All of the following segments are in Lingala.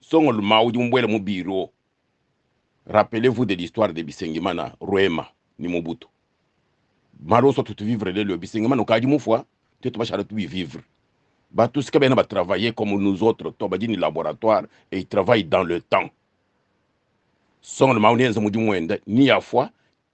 Songolo maudi mubuela mu bureau rappelez vous de l'histoire de Bisengimana, Rwema ni Mobutu malo oso tutu vivre lelo Bisengimana okaji mufua te tubashala tubi vivre batu sika bena ba travailler comme nous autres to badi ni laboratoire et ils travaillent dans le temps Songolo maudi enza mudi muenda ni ya fua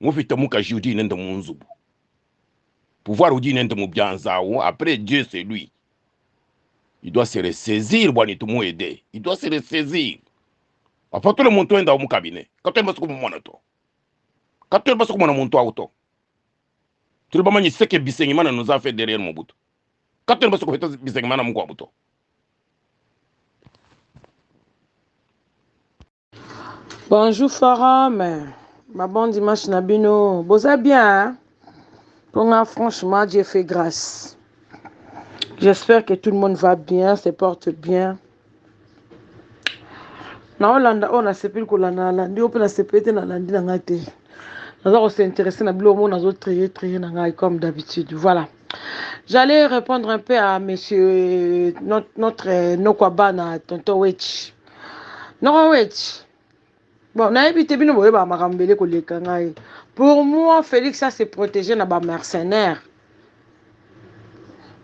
Mufita mukaji udi nende munzubu pouvoir udi nende mubianza ou après Dieu c'est lui il doit se ressaisir bwani tumu aide il doit se ressaisir papa tout le monde enda au cabinet kato yamba soko mwana to kato yamba soko mwana muntu auto tout le monde manyi seke bisengimana nous a fait derrière Mobutu kato yamba soko feta bisengimana mukwa buto Bonjour forum, ma bon dimanche na bino. Boza bien hein? Pour moi, franchement, Dieu fait grâce. J'espère que tout le monde va bien, se porte bien. Na Hollande, on a sepeli kolanda na landi, ope na sepeli te na landi na ngai te. Naza ko s'intéresser na bilo mo nazo trier trier na ngai comme d'habitude. Voilà. J'allais répondre un peu à monsieur notre, notre Nokwabana, tonton Wetch. noko weti bon nayebi te bino boyebaka makambo bele koleka ngai pour moi félix a se protégé na ba mercenaire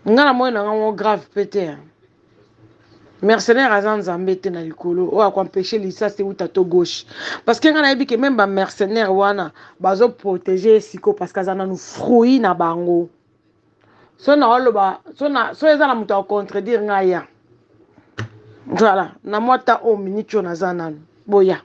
ngai namoni na ngai ngo grave mpe te mercenaire aza nzambe te na likolo oyo akoempeshe lisasi euta to gauche parce que ngai nayebi ke meme ba mercenaire wana bazoprotege ye siko parce que aza nanu fruit na bango so naoloba so, na, so eza na moto ya kocontredire ngai ya voilà na mwa ta oyo miniti oyo naza nanu boya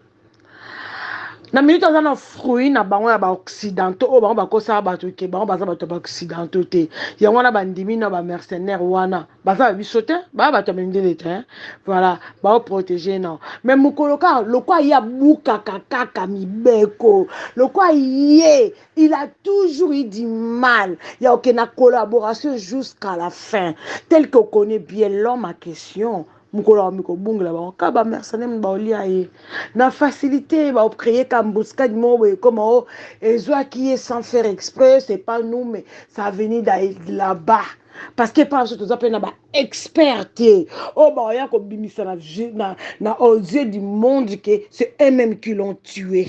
na miniti aza na fruit na bango ya baoccidentaux oyo bango bakosala bato ke bango baza bato ya baoccidentaux te yango wana bandimi na bamercenaire wana baza ba biso te baa bato ya mindele te voilà baoprotege nao mai mokolo kaka lokwa ye abukaka kaka mibeko lokwa ye il a toujours eu du mal ya oke na collaboration jusqu'à la fin tel que okoni bien l'homme à question mokolo ya mikobungela bango kaka bamercenaire mini baolia ye na facilité baocreye ka embuscade moko boye ekoma o ezwaki ye sans faire exprès c'est pas nous mais ça veni là-bas parce que epai biso toza mpe na baexpert te oyo baoya kobimisa na, na, na aux yeux du monde que c'est eux-mêmes qui l'ont tué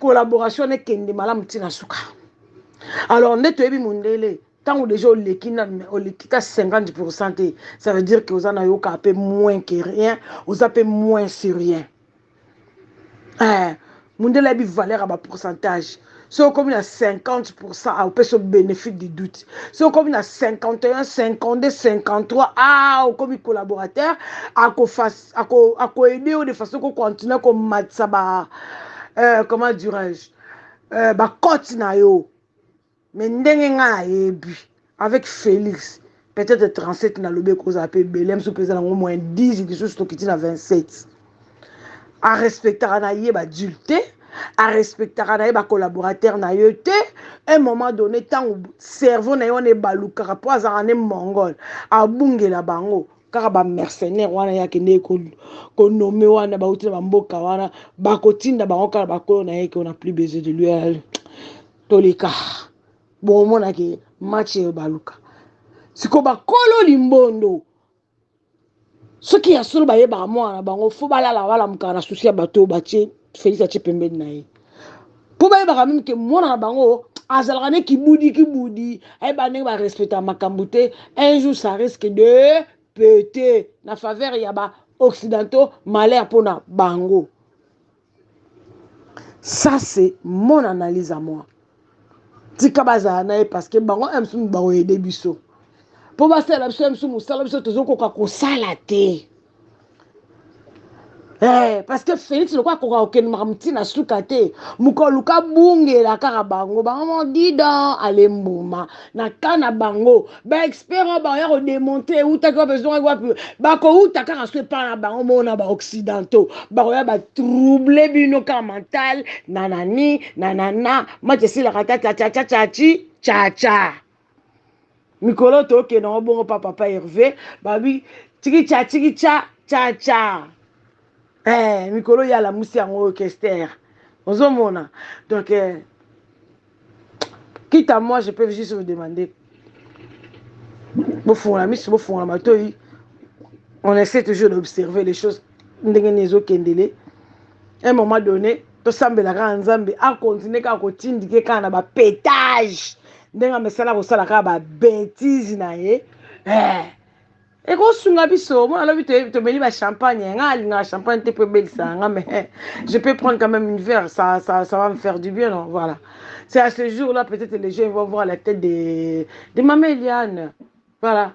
collaboration wana ekende malamu ntina suka alors nde toyebi mondele ntango deja oleki nanu oleki ta 50 pourcent te ça veut dire que oza na yokaa mpe moins que rien oza mpe moins sur rien eh, mondele ayebi valeur ya bapourcentage soki okomi na 50 pourcent aopesa bénéfice du doute soki okomi na 51 52 53 a okomi collaborateur akofa ako ako aider yo de façon ko continuer ko matisa ba euh, comment dirais-je euh, ba cote na yo mais ndenge nga na yebi avec Felix peut-être 37 na lobi ekozala pe belem so peza nango moins 10 lisusu tokiti na 27 a respectaka na ye ba adulte a respectaka na ye ba collaborateur na yo te un moment donné ntango cerveau na ye wana ebalukaka mpo azalaka nde mongol abungela bango kaka ba mercenaire wana ye akendeki konome wana bauti na bamboka wana bakotinda bango kaka bakolo na ye ke ona plus besoin de lui euh, toleka bokomonake match eyo baluka siko bakolo limbondo soki ya solo bayebaka mwana na bango fo balala balamukaka na susi ya bato oyo batie Felix atie pembeni na ye mpo bayebaka meme ke mwana na bango azalaka ne kibudi kibudi ayeba ndenge barespecta makambo te un jour ça risque de pete na faveur ya ba occidentaux malheur mpo na bango ça c'est mon analyse à moi tika bazala na ye parce que bango msumu bakoyede biso mpo basalela biso msumu mosala biso tozokoka kosala te Eh, parce que Félix lokola akoka kokende makambo ti na suka te mokoluka bungela kaka bango bango moko didan ale mbuma na ka na bango baexpert oyo bakoya kodemonte eutaki wapi ezongaki wapi bakouta kaka so epai na bango moko na baoccidentaux bakoya batrouble bino kaka mental na nani na nana mati esilaka ta chachachachachi chacha mikolo tokenda ngo bongo pa papa herve babi tikicha tikicha chacha eh, mikolo ye alamusi yango oyo kester ozomona donc eh, quitte à moi je peux juste vous demander bofungola miso bofungola matoi on essaie toujours d'observer les choses ndenge nini ezokendele un moment donné tosambela kaka nzambe akontinue kaka kotindike kaka na bapetage ndenge amesala kosala kaka babetise na ye eh. ekosunga biso mona alobi tomeli bachampagne eh, ngai alingaka champagne te mpo ebelisaka nga mais eh, je peux prendre quand même une verre ça, ça, ça va me faire du bien non voilà c'est à ce jour là peut-être les gens vont voir la tête de, de mama eliane voilà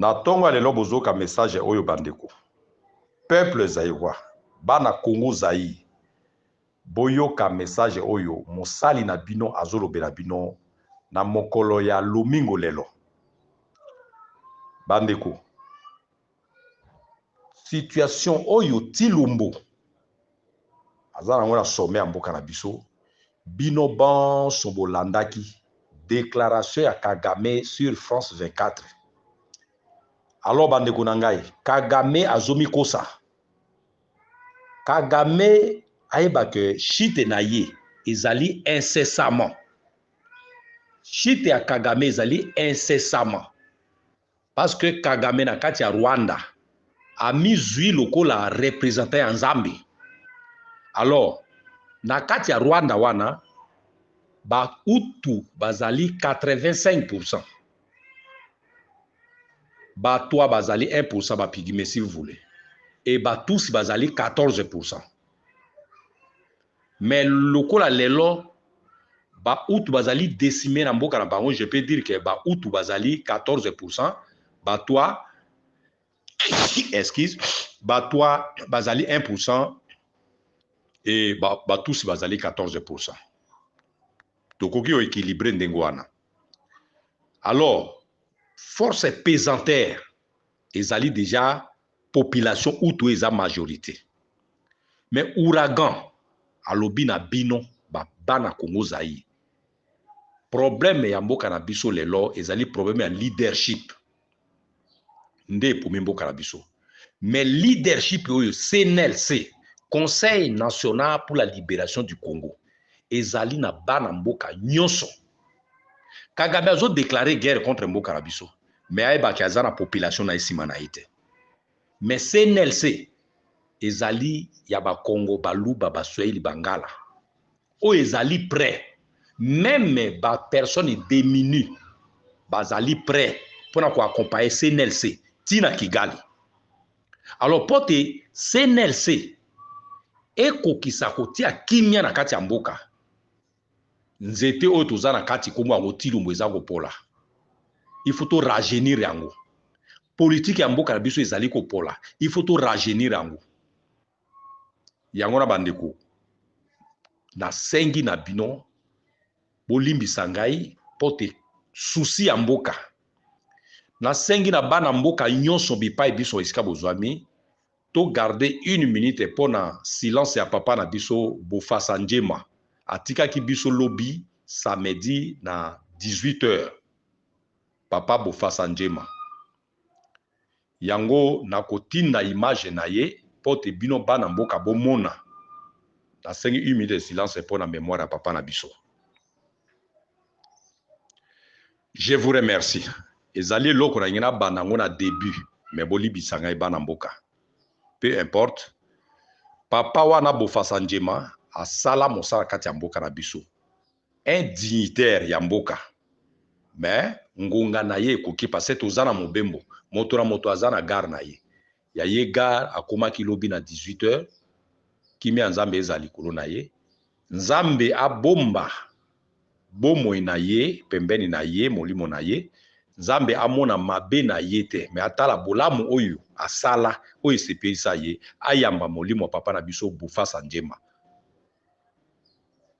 Na tongo ya lelo bozoyoka message oyo ba ndeko. Peuple Zairois, bana Congo Zaïre, boyoka message oyo mosali na bino azolobela bino na mokolo ya lomingo lelo. Ba ndeko, Situation oyo Thilombo aza nango na sommet ya mboka na biso, bino banso bolandaki declaration ya Kagame sur France 24. Alors bandeko na ngai, Kagame azomikosa. Kagame ayeba que chute na ye ezali incessamment. Chute ya Kagame ezali incessamment. Parce que Kagame na kati ya Rwanda a mi zui lokola representant ya Nzambe. Alors na kati ya Rwanda wana ba Hutu bazali 85%. Ba Twa bazali 1% ba Pygmees si vous voulez. Et ba Tusi bazali 14%. Mais lokola lelo ba hutu bazali decime na mboka na bango, je peux dire que ba hutu bazali 14% batwa excuse batwa bazali 1% et ba, ba tusi bazali 14%. Tokoki o equilibrer ndenge wana. Alors, force pesanteur Ezali dejà population hutu oyo eza majorite. Mais ouragan alobi na bino ba bana Congo Zaïre problème ya mboka na biso lelo ezali problème ya leadership nde epomi mboka na biso. Mais leadership oyo CNLC, Conseil National pour la Liberation du Congo, ezali na bana mboka nyoso. kagame azo declare guerre contre mboka na biso me ayebaki aza na population na ye nsima na ye te me cnlc ezali ya bakongo baluba baswahili bangala oyo ezali près meme bapersonne deminue bazali près mpo na koakompaye cnlc ti na kigali alors mpo te cnlc ekokisa kotia kimia na kati ya mboka Nzete oyo toza na kati kombo yango Tshilombo eza kopola. Il faut to rajeunir yango. Politique ya mboka na biso ezali kopola. Il faut to rajeunir yango. Yango na bandeko na sengi na bino bolimbisa ngai pote souci ya mboka nasengi na bana mboka nyonso bipai biso esika bozwami To garder une minute pona silence ya papa na biso Bofasa Ndjema. Atikaki biso lobi samedi na 18 heures. Papa Bofasa Ndjema. Yango nakotinda image na ye mpo te bino bana mboka bomona. Nasengi une minute de silence mpo na memoire ya papa na biso. Je vous remercie ezali eloko na ngi na banda yango na debut mais bolibisa ngai bana mboka peu importe papa wana bofasa njema asala mosala kati ya mboka na biso un dignitaire ya mboka mais ngonga na ye ekoki parce toza na mobembo moto na moto aza na gare na ye Ya ye gard akomaki lobi na 18 heures kimia ya nzambe ezala likolo na ye nzambe abomba bomoi na ye pembeni na ye molimo na ye nzambe amona mabe na ye te mais atala bolamu oyo asala oyo esepelisa ye ayamba molimo ya papa na biso bofasa njemba.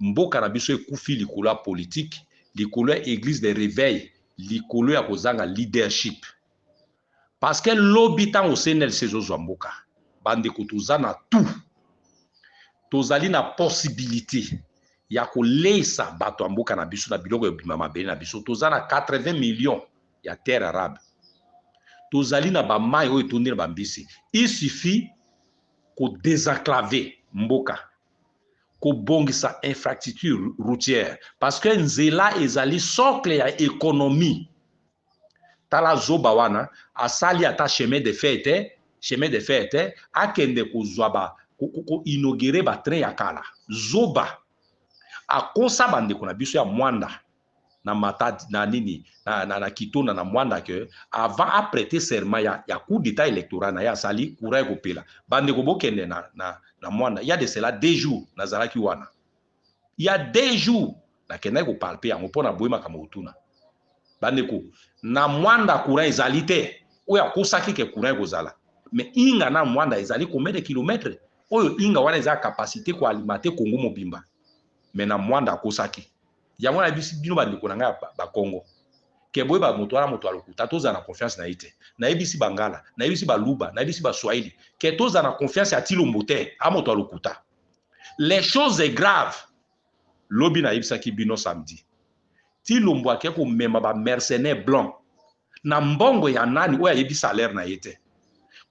Mboka na biso ekufi likolo ya politique, likolo ya eglise de reveil, likolo ya kozanga leadership. Parce que lobi tango CNLC ezo zwa mboka, ba ndeko toza na tout. Tozali na possibilite ya ko leyisa bato ya mboka na biso na biloko ebima mabele na biso. Toza na 80 millions ya terre arabe. Tozali na ba mayi oyo etondi na ba mbisi. Il suffit ko desenclaver mboka. kobongisa infrastructure routière parce que nzela ezali socle ya économie tala zoba wana asali ata chemin de fer te chemin de fer te akende kozwa ba koinogere batrain ya kala zoba akosa bandeko na biso ya mwanda na matadi na nini na, na, na kitona na mwanda que avant a prêter serment ya, ya coup d'état électoral na ye asali courant ekopela bandeko bokende na, na, na mwanda ya de cela deux jours nazalaki wana ya deux jours nakendaki kopalpe yango mpo na boye makambo kotuna bandeko na mwanda courant ezali te oyo akosaki ke courant ekozala mais inga na mwanda ezali combien de kilomètre oyo inga wana eza capacité koalimate congo mobimba mais na mwanda akosaki yango na bisi bino bandeko na ngai ba Congo ke boyeba moto wana moto ya lokuta tozala na confiance na ye te nayebisi bangala nayebisi baluba nayebisi baswahili ke tozala na confiance ya tilombo te a moto ya lokuta les choses est grave lobi nayebisaki bino samedi tilombo ake komema ba mercenaire blanc na mbongo ya nani oyo ayebi salaire na ye te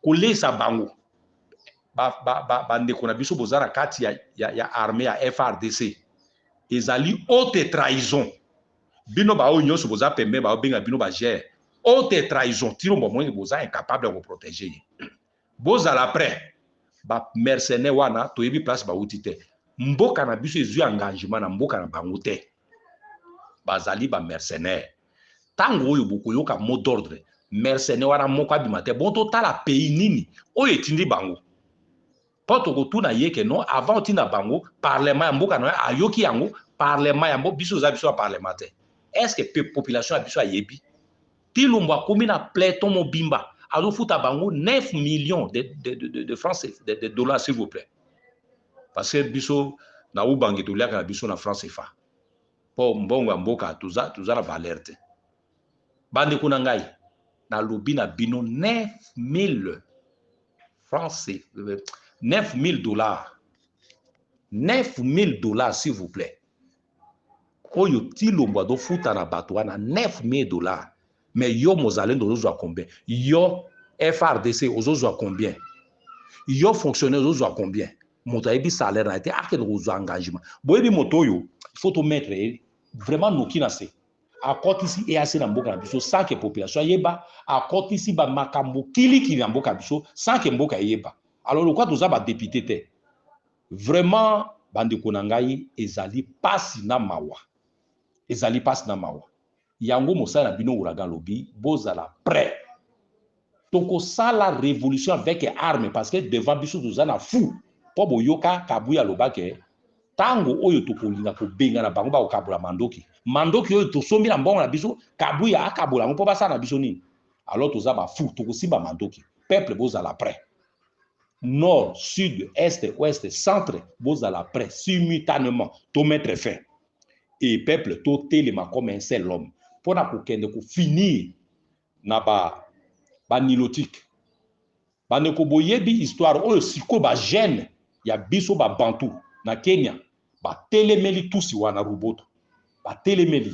koleisa bango bandeko ba, ba na biso boza na kati ya, ya, ya arme ya frdc ezali haute trahison bino baoyo nyonso boza pembe baobenga bino bagere haute trahison tino bomoni boza incapable ya koprotege ye bozala près bamercenaire wana toyebi place bauti te mboka na biso ezwi engagement na mboka na bango te bazali bamercenaire ntango oyo bokoyoka mot d'ordre mercenaire wana moko abima te bon totala pays nini oyo etindi bango mpo tokotuna ye ke non avant otinda bango parlement ya mboka na yo ayoki yango parlement ya mboka biso eza biso ya parlement te est ce que population ya biso ayebi tilumbu akomi na platon mobimba azofuta bango 9 millions de, de, de, de, de france de, de dollars s'il vous plaît parce que biso na ubangi toliaka na biso na france efa po mbongo ya mboka toza toza na valeur te bandeko na ngai nalobi na bino 9000 francs 9000 dollars 9000 dollars s'il vous plaît oyo tilombo azofuta na bato wana 9000 dollars mais yo mozalendo ozozwa combien yo frdc ozozwa combien yo fonctionnaire ozozwa combien moto ayebi salaire na ye te akende kozwa engagement boyebi moto oyo il faut tomettre ye vraiment noki na se akotisi eac na mboka na biso sans que population ayeba akotisi bamakambo kilikili na mboka na biso sans que mboka eyeba alors lokola toza badepute te vraiment bandeko na ngai ezali mpasi na mawa ezali mpasi na mawa Yango mosala na bino ouragan alobi bozala pret toko sala revolution avec arme parce que devant biso toza na fou po boyoka kabuya aloba ke tango oyo tokolinga kobengana bango bakokabola mandoki mandoki oyo tosombi na mbongo na biso kabuya akabola yango po basala na biso nini alors toza ba fou tokosimba mandoki peuple bozala pret nord sud est ouest centre bozala pret simultanement to mettre fin et peuple to telema comme un seul homme pona ko kende ko finir na ba ba nilotique ba ndeko boyebi histoire oyo siko ba jeune ya biso ba bantu na Kenya ba telemeli tusi wana ruboto ba telemeli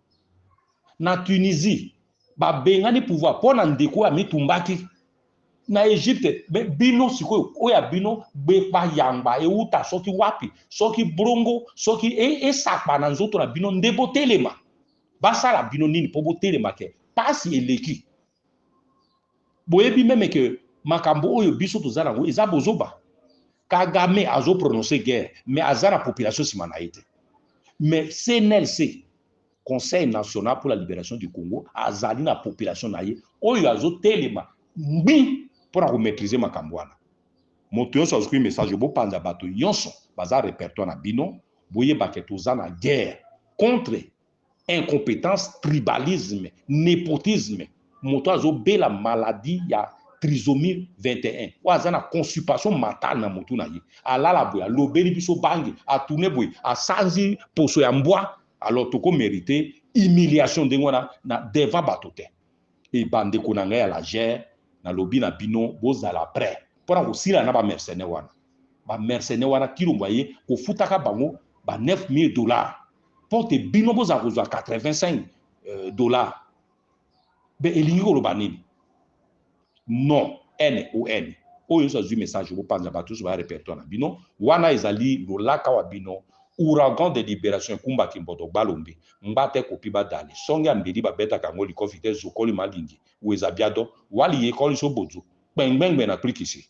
na Tunisie babengani pouvoir mpo na ndeko oyo amitumbaki na Egypte. Me bino sikoyo oyo ya bino bayamba euta soki wapi, soki brongo, soki e, esakpa na nzoto na bino nde botelema. Basala bino nini mpo botelema ke pasi eleki boyebi meme que makambo oyo biso toza nango eza bozoba kagame azo prononce guerre mais aza na population nsima na ye te mais cnlc conseil national pour la liberation du congo azali na population na ye oyo azotelema ngbi mpo na komaîtrise makambo wana moto yonso azwi message bopanza bato yonso baza repertoire na bino boyebake toza na guerre contre incompetence tribalisme nepotisme moto azobela maladie ya trisomie 21 oyo aza na constipation mentale na motu na ye alala boye alobeli biso bangi atune boye asanzi poso ya mbwa alors toko merite humiliation ndenge wana na devant bato te e bandeko na ngai ya lagere nalobi na bino bozala prêt mpo na kosila na bamercenaire wana ba mercenaires wana kilombo aye kofutaka bango ba 9000 dollars mpo te bino bozala kozwa 85 euh, dollars be elingi koloba nini non n o n oyo nyonso azwi message bopanza bato nyonso baya repertoire na bino wana ezali lolaka wa bino ouragan de liberation ekumba kimboto balombe mbata ekopi badale songe ya mbeli babetaka yango likofi te zokoli malingi weza biado wali yekoli so bozo kpengbengbe na klikisi